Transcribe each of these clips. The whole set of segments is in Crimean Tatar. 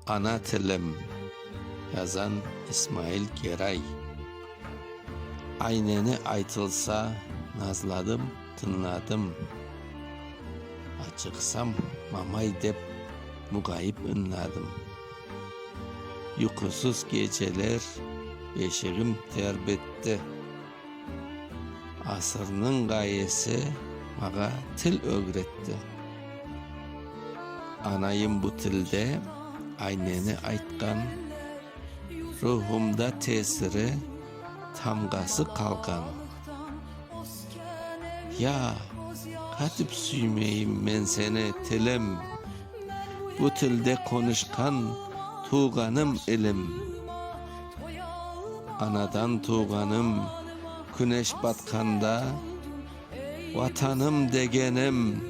Ana tilim. Yazan, İsmail Geray. Ayneni aytılsa, nazladım, tıñladım. Açıqsam, mamay dep, mugayip ıñladım. Yuqusız geceler, beşigim ter bitti. Asırnıñ ğayesi mağa til ögretti. Anayım bu tilde ayneni aytqan, ruhumda tesiri, tamğası qalğan. Ya, qatip süymeyim men seni, tilim, bu tilde qonuşqan tuvğanım ilim. Anadan tuvğanım, küneş batqanda, Vatanım degenim,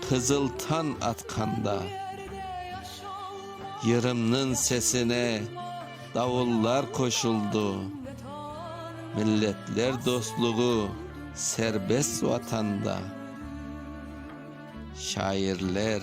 qızıl tañ atqanda. Yırımnıñ sesine davullar qoşuldı, Milletler dostluğı serbest Vatanda. Şairler.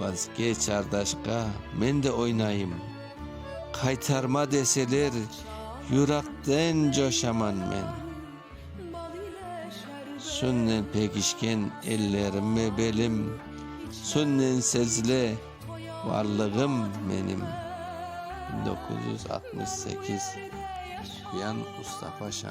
Vazkeç, ardaşka, men de oynayım. Qaytarma deseler, yürakten coşaman men. Sünnen pegişken ellerim ve belim, Sünnen sezile varlığım menim. Bin doquz yüz altmış sekiz, Quyan Mustafa Şan.